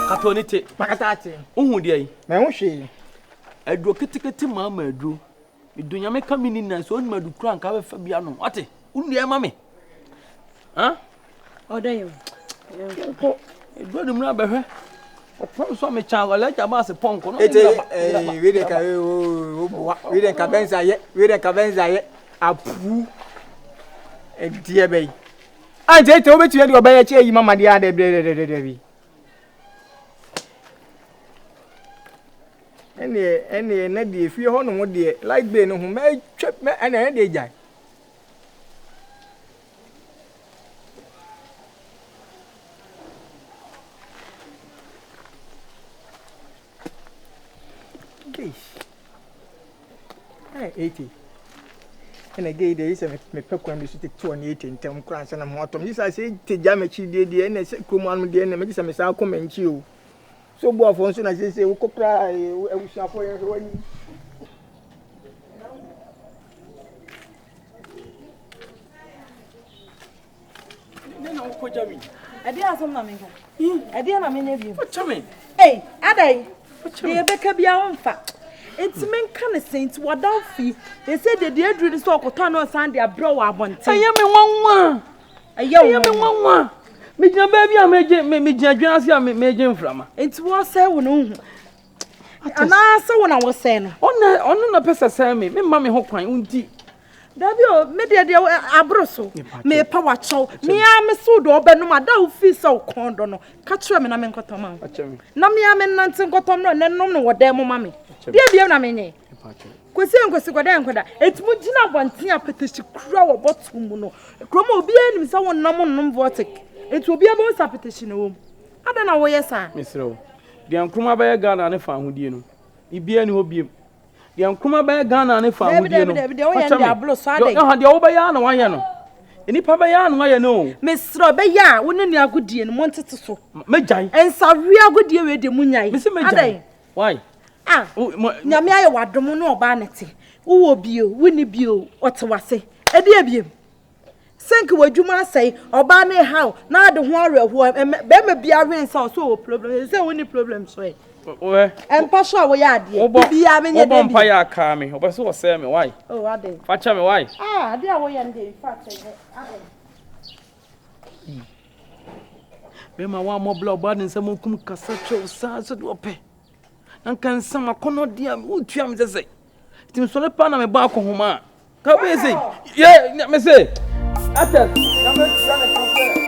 Kato ne te. Makata ate. Wohu deɛ yi? Mɛho hwee. Aduro ketekete maa ma aduro. Medɔ nyame ka mini na sɛ onim adu kura nka bɛfa bi anom wate wonua ma me ɔdɔ yɛ nkokɔ ɛdɔ ne mu abɛhwɛ ɔpɔn so me kyan wala gya baase pɔnkɔ no ete eh we de ka we wo boa we de ka benza ye we de ka benza ye apu ɛdeɛ bɛyi a nti ɛtɛ wobɛtumi de ɔbɛyɛ kyɛ yi mama deɛ adɛbrɛdɛdɛdɛ bi Ɛnneɛ, ɛnneɛ, na deɛ efie hɔ nom deɛ, light bill no ho, mɛtwa, mɛ, ɛnna ɛyɛ deɛ gyae. eti ɛna gei deɛ sɛ mepɛ kwan bi so tete wɔ ne eti ntɛm koraa sɛ na mo atɔm gye sɛ sɛ ete gya m'akyi deɛ deɛ ɛna sɛ kurom anom deɛ ɛna megye sɛ mesan kɔ m'ankyi o So obu afɔ nso na sese wokɔ pra abusuafo yɛ hwɛ wani. Ne na wokɔ gya mi. Ɛdeɛ asɛm na menka. Ɛdeɛ na menyɛ bio. Wokyɛ me. Ei, adai. Deɛ ɛbɛka bia womfa. Nti menka ne sɛ nti wɔda wo fie. Ɛsɛ deɛ deɛ aduru ne sɛ ɔkɔtɔ ano ɔsan de abrɛ wɔ abɔnten. Ɛyɛ me nwanwa. Ɛyɛ wo me nwanwa. Megyina baabi a megye megyina dwen ase a megye mframa. Nti wɔsɛe wo no nhu. Anaasɛ wo na wɔsɛe no. Ɔna ɔno na pɛ sɛ sɛe me. Memma me ho kwan nti. Dabi o, me deɛ deɛ aboro so. Mepa wakyɛw. Mea me so dɔ ɔbɛnom a da ofi sɛ ɔkɔn dɔ no. Ka kyerɛ me na me nkɔtɔ ma wo. Na mea me nante nkɔtɔ no na nom no wɔ dan mu ma me. Deɛ biem na menyɛ. Kwesi Nkwesi Gwadaa Nkwadaa. Enti mo gyina abɔnten apɛtɛsi kura wɔ bɔtol mu no. Kurom a obiara nim sɛ wɔn nam nnom vɔtik. Enti obiara bɛhu sɛ apɛtɛsi na ɛwɔ mu. Adɛn na woyɛ saa? Mesrɛ wo. Deɛ Nkrumah bɛyɛ Ghana ne fa ahodie no, biribiara ni hɔ biom. Deɛ Nkrumah bɛyɛ Ghana ne fa ahodie no, fakyɛ me. Yɔha deɛ wobɛyɛ ara na wayɛ no. Nnipa bɛyɛ ara na wayɛ no o. Mesrɛ wo, bɛyɛ a wo ne ne agodie no montete so. Mɛgyae. Nsaweɛ agodie wei deɛ monyae. Mese mɛgyae. Adɛn? Why? Ah, oh, ma, nyame ayɛ w'adom ne ɔbaa no te wowɔ bio wonni bio ɔte w'ase ɛde abiem sink w'adwuma asɛe ɔbaa no ɛhaw na ade ho awerɛhoɔ bɛrima biara hwene sɛ ɔsɛ ɔwɔ problem ɛsɛ sɛ wonni problem so ɛ ɛmpa so a woyɛ adeɛ bibiaa menyɛ dɛbi wobɔ mpa yɛ akaa me ɔbɛ sɛ wɔsɛe me wae fakyɛ me wae adeɛ a woyɛ no deɛ in fact ɛnyɛ adɛn Bɛrima a wammɔ bla ɔbaa ne nsam okum kasa kyerɛw saa sɛdeɛ ɔpɛ na nka nsa makɔnɔ deɛ a wotua me sɛ sɛ nti mesɔre paa na mebɔ akɔhoma a ka wobɛyɛ sɛ yɛ me se atɛ na mɛtua ne ka sɛ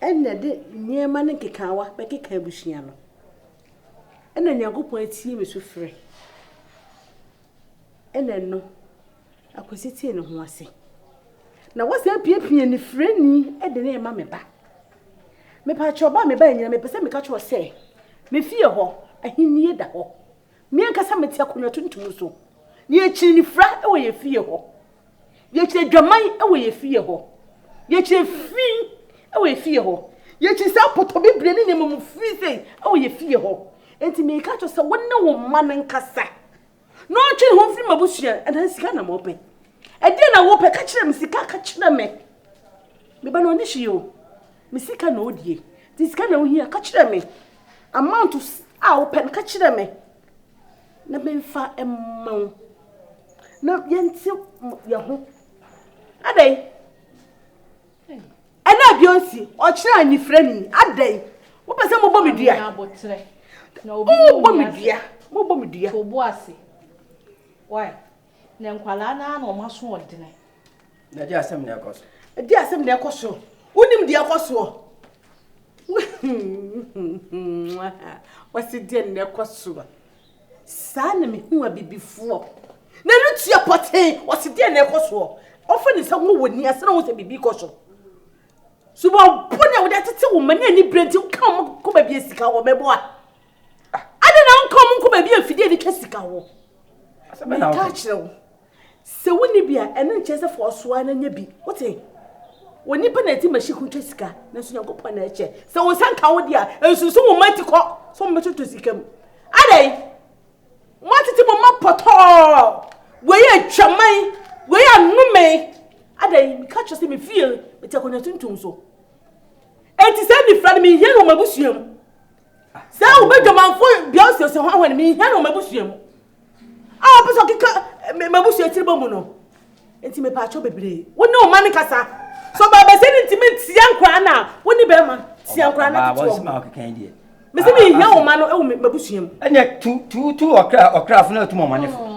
Ɛna ɛde nneɛma ne nkekaawa bɛkeka abusua no. Ɛna Nyankopɔn atie me sufrɛ. Ɛna ɛno, Akwasi tee ne ho ase. Na wasan apiapia anifirani de no rema me ba. Mepaakyɛ ɔba a me ba anyina, mepɛ sɛ meka kyerɛ sɛ, me fie hɔ, ahennie da hɔ. Me ankasa mete akonnwa tuntum so. Na yɛkyiri anifira wɔ yɛn fie hɔ. Yɛkyerɛ dwaman wɔ yɛn fie hɔ. Yɛkyerɛ fi wɔ yɛn fie hɔ. Yɛkyerɛ saa apɔtɔbibire ne nneɛma mu fi sɛ wɔ yɛn fie hɔ. Enti meka kyerɛ sɛ wo ne wo mma no nkasa na ɔntwe ne ho mfiri m'abusua anaa sika na mɔpɛ. Ɛdeɛ na wopɛ ka kyerɛ me sika ka kyerɛ me. Me ba no ɔne hwee o. Me sika na ɔdie. Nti sika na wohia ka kyerɛ me. Amount a wopɛ no ka kyerɛ me. Na memfa mma wo. Na yɛnte yɛn ho. Adɛn? Ɛna bi onsi ɔkyerɛ anifrɛ ni. Adɛn? Wopɛ sɛ mobɔ me dua? Mobɔ me dua. Mobɔ me dua. Why? Na nkwadaa no ara na wɔn aso ɔdene. Na gye asɛm na ɛkɔ so. Gye asɛm na ɛkɔ so. Wonim deɛ ɛkɔ soɔ. Wɔsi deɛ na ɛkɔ soɔ. Saa na mehu abibifoɔ. Na ɛno tua pɔtee. Wɔsi deɛ na ɛkɔ soɔ. Wɔfa ne nsa wɔ wɔ ni asɛn wɔn sɛ biribi kɔ so. Subɔn bɔne a wɔde atete wɔn mani ani bere nti nka wɔn kɔ baabi asika wɔn mɛboa. Adi na nka wɔn nkɔ baabi afidie de twa sika wɔ. Meka kyerɛ wo. Sɛ wonni bi a, ɛno nkyerɛ sɛ fa ɔsoa na nya bi. Wote? Onipa na ɛte machine ho twa sika, nanso Nyankopɔn na ɛkyɛ. Sɛ wo nsa nka wo de a, nsusu wo mma ti kɔ sɛ wɔbɛtotɔ sika mu. Adɛn? Moatete mo mma pɔtɔɔ. Wei yɛ twaman. Wei yɛ anome. Adɛn? Meka kyerɛ sɛ me fie mete akonnwa tuntum so. Enti sɛ mefira no menhia no wɔ m'abusua mu. Sɛ wobɛdwamanfo bia ɔsiesie ho ahɔ no menhia no wɔ m'abusua mu. a ɔpɛ sɛ ɔkeka m'abusua tiri bɔ mu no nti mepɛ akyɛw bebree wo ne ɔma no kasa so baabɛsɛ no ntumi ntia nkora no a wo ne bɛrima tia nkora no tete mesi mi hia ɔma no ɛwɔ m'abusua mu ɛnyɛ tu tu tu ɔkra ɔkrafo na atum ɔma ne fo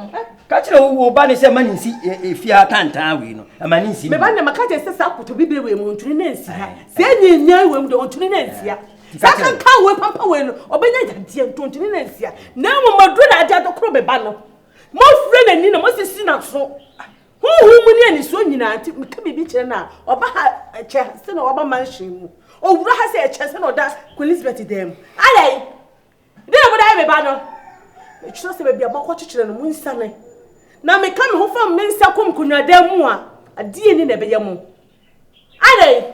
ka kyerɛ wo wo ba ne sɛ ma ne nsi efi ha tantan wei no ɛma ne nsi meba na maka kyerɛ sɛ saa koto bibire wei mu ntuni na nsi ha sɛ ɛnyɛ nyɛ wei mu deɛ ɔntuni na nsi ha Saa kankan wei pampa wei no, ɔbɛnya yadeɛ ntontoni na nsia. Na mmom maduro na ade adokoro me ba no. Mofire n'ani na mosisi n'aso. Honhom mu ne anisoɔ nyinaa nti, meka biribi kyerɛ no a, ɔba ha ɛkyɛ sɛ na waba mansion mu. Ɔwura ha sɛ ɛkyɛ sɛ na ɔda Queen Elizabeth dan mu. Adɛn? Dɛn na mode ayɛ me ba no? Mekyerɛ sɛ baabi a moakɔkyekyere no, monsiane. Na meka me ho fam me nsa kɔm nkonnwadan mu a, adeɛ ni na ɛbɛyɛ mo. Adɛn?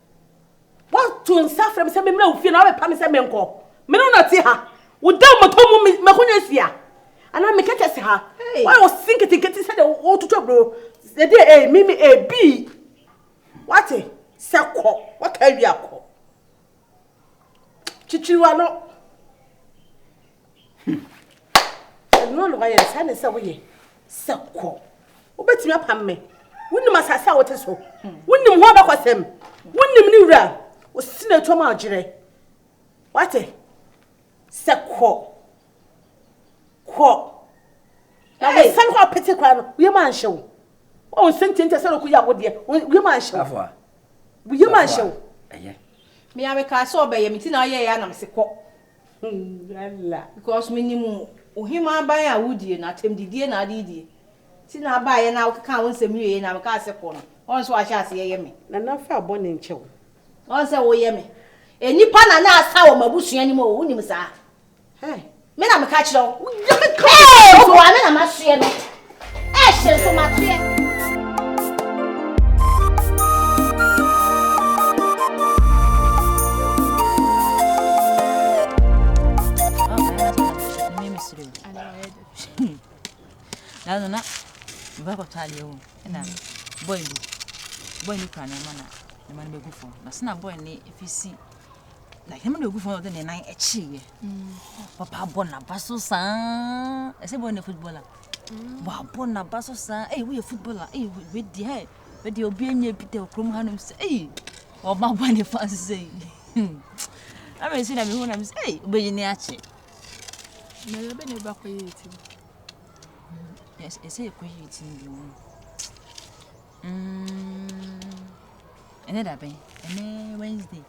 Woato nsa afrɛ me sɛ memmra wo fie na woabɛpa me sɛ menkɔ. Me ne wo na ɛte ha. Woda mmɔtɔ mu m'akonnwa si ha. Anaa me kɛtɛ si ha. Woayɛ wo se nketenkete sɛdeɛ wototo aburo. Ɛdeɛ ee, eh, mimi ee, eh, bii. Woate? Sɛ kɔ. Woaka awie akɔ. Kyekyere w'ano. Sɛ noa na wayɛ no saa ne sɛ woyɛ sɛ kɔ. Wobɛtumi apam me. Wonim asase a wote so. Wonim ho abakɔsɛm. Wonim ne wura. Wosi na ɛtwam a ɔgyerɛ. Wate? Sɛ kɔ. Kɔ. Na wosan hɔ apete koraa no, woyɛ ma nhyɛ wo. Wɔn nsɛntiɛntiɛ sɛ ɔkɔ yi awodeɛ. Woyɛ ma nhyɛ wo. Woyɛ ma nhyɛ wo. Ɛyɛ. Me a mekaa sɛ ɔbɛyɛ me ti na ɔyɛ yɛ anam se kɔ. Yalla. Because minim wo hemmaa aban a wodie no, atɛmdidie na ade die nti na abaeɛ no a wokekaa wo nsɛm wieeɛ na mekaa sɛ kɔ no, woahu sɛ wahyɛ aseɛ yɛ me. Nana fa abɔne nkyɛ wo. Woahu sɛ woyɛ me nnipa Nana Asa wɔ m'abusua no mu o, wonim saa? Hey! Me na meka kyerɛ wo. Hey! Obuaa me na masoɛ no. Ɛɛhyɛ nso mateɛ. Nanu na mba kɔtɔ adeɛ wɔ ɛna bɔɔl bi bɔɔl ni kura nneɛma na nneɛma no bɛgu fam na sena bɔɔl ni efi si na nneɛma no bɛgu fam na ɔde ne nan akyi yɛ papa bɔ n'aba so saa ɛsɛ bɔɔl no football a. Wabɔ n'aba so saa. Ei, woyɛ footballer. Ei, wei deɛ, hɛ, wei deɛ obi nyɛ bi da kurom hanom sɛ, ei, ɔba bɔ ne fa nso sɛ yi. Hmm. Ama ɛsi na mehu na me sɛ, ei, wobɛyi ne akyɛ. Na yɛ bɛ na ɛba kɔ yɛ ti. Ɛsɛ yɛ kɔ yɛ ti bi mu. Mm. Ɛnɛ da bɛn? Ɛnɛ Wednesday.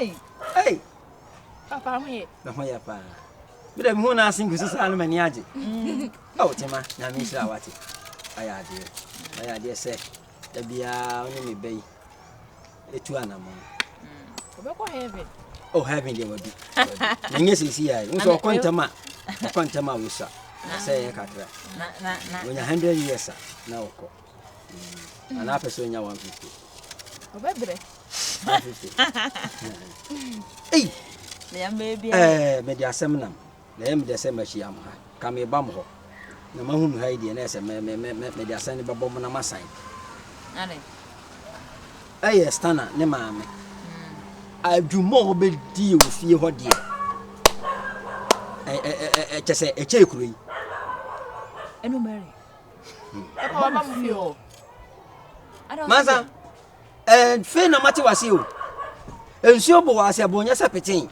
Ei! Ei! Papa ho ye. Na ho ye pa. Me da bi ho na asen kusi saa no mani agye. Ɛ o tema, na me nhyira wate. Aya ade. Aya ade se. Da bia oni me bɛyi. Etu anamo. Obekɔ heaven. Oh heaven de wadu. Na nye sisi ya. Wo so okɔ ntama. Okɔ ntama wo sa. Sɛ kakra. Na na na. Onya 100 years na okɔ. ana apɛ sɛ ɔnya 150 ɔbɛbrɛ 150 ei eh, mede asɛm nam na ɛyɛ medɛ sɛ mahyia m ha ka meba m hɔ na mahu no ha yi deɛ na ɛsɛ mede asɛm no bɛbɔ mo na masan ɛyɛ stana ne maame adwuma a wɔbɛdie wɔ fie hɔ deɛ kyɛ sɛ ɛkyɛ kuro yi ɛkɔba mo fie hɔ mansa ɛɛ fei na mate wase o nsuo bo wɔ ase ɛbo nyɛ sɛ peten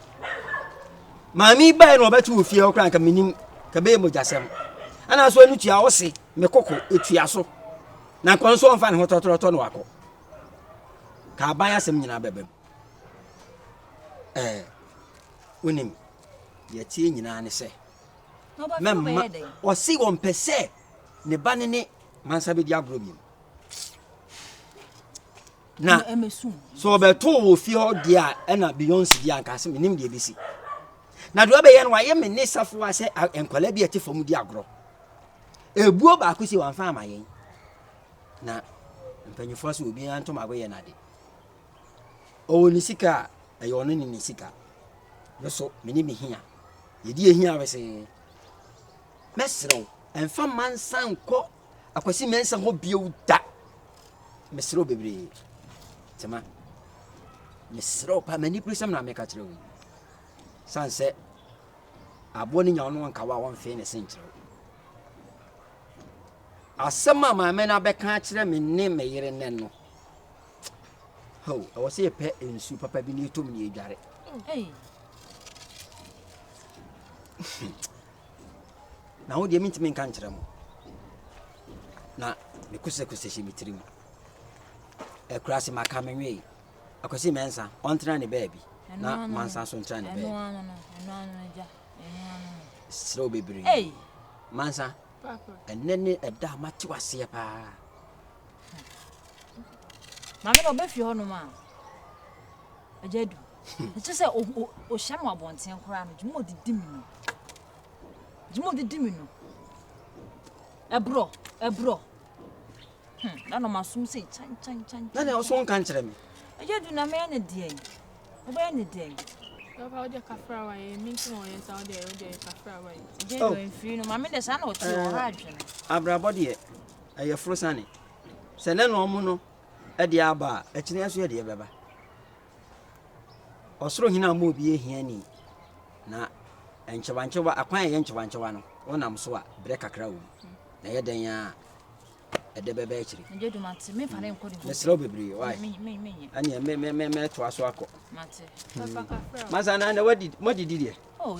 maame bae na ɔbɛto wɔ fie hɔ koraa nka menim ka bɛyɛ mogyasɛm ɛna so ɛno tua ɔse me koko ɛtua so na nkɔ nso ɔmfa ne ho tɔtɔrɔtɔ no wakɔ ka aban asɛm nyinaa bɛbɛ mu ɛɛ wonim deɛ tie nyinaa ne sɛ mɛmma ɔse ɔmpɛ sɛ ne ba ne ne mansa bɛdi agorɔ biom na sɛ ɔbɛtoo wɔ fie hɔ deɛ a ɛna beyonce deɛ anka sɛ menim deɛ bɛsi na deɛ ɔbɛyɛ no wayɛ me ne safoa sɛ nkwadaa bi a ɛte fam di agorɔ ebuo baako si wɔn afa ama yɛn na mpanyinfoɔ so obiara ntoma agoyɛ n'ade. Ɔwɔ ne sika a, ɛyɛ ɔno ne ne sika. Me nso, me ne me hia. Yɛdi yɛn hia wesee. Mɛsrɛ wo, ɛmfa mma nsan nkɔ Akwasi Mensah hɔ bio da. Mesrɛ wo bebree. Tema, mesrɛ wo paa, m'aniberesɛm na meka kyerɛ wo yi. San sɛ aboɔ no nya wo no ɔnka wo a ɔmfee ne se nkyerɛ wo. Asɛm a maame no abɛka akyerɛ me ne me yere nnɛ no, Hao, ɛwɔ sɛ yɛpɛ nsu papa bi na yɛtɔ mu na yɛdware. na ho deɛ mentumi nka nkyerɛ mo na mekosɛkosɛ hyɛ me tirim akura se maka me nwee akwasi mɛnsa ɔntena ne baabi na mansa so ntena ne baabi serɛ wo bebree mansa ɛnɛ ne ɛda a mate waseɛ paa maame na ɔbɛfie hɔnom a agya du ɛkyɛ sɛ ɔhyia me wɔ abɔnten koraa no gyima ɔdidi me no gyima ɔdidi me no ɛborɔ ɛborɔ na na ɔmasom sɛ kyankyankyan na na ɔso nka nkyerɛ me agya du na mɛyɛ ne deɛ wobɛyɛ ne deɛ Papa, wọ́n jẹ́ kafra wa yẹ, mi tún wọ́n yẹ sá, wọ́n jẹ́ wọ́n jẹ́ kafra wa yẹ. Jẹ́ ìwé nfiri ni, maame dẹ̀ sá na ọ̀tí ọ̀há àdwene. Abrabọ deɛ, ɛyɛ foro sane. Sɛ na na wɔn no de aba a, akyiri nso yɛde ɛbɛba. Ɔsoro hene ama obi yɛ hiani. Na nkyewankyewa, akwan a ɛyɛ nkyewankyewa no, wɔnam so a, berɛ kakra wɔ mu. Na ɛyɛ dɛn a ɛde bɛba akyiri. Mesrɛ wo bebree, wae. Ɛneɛ mɛtoa so akɔ. Hmm. Masa na na wadidi deɛ? Oh,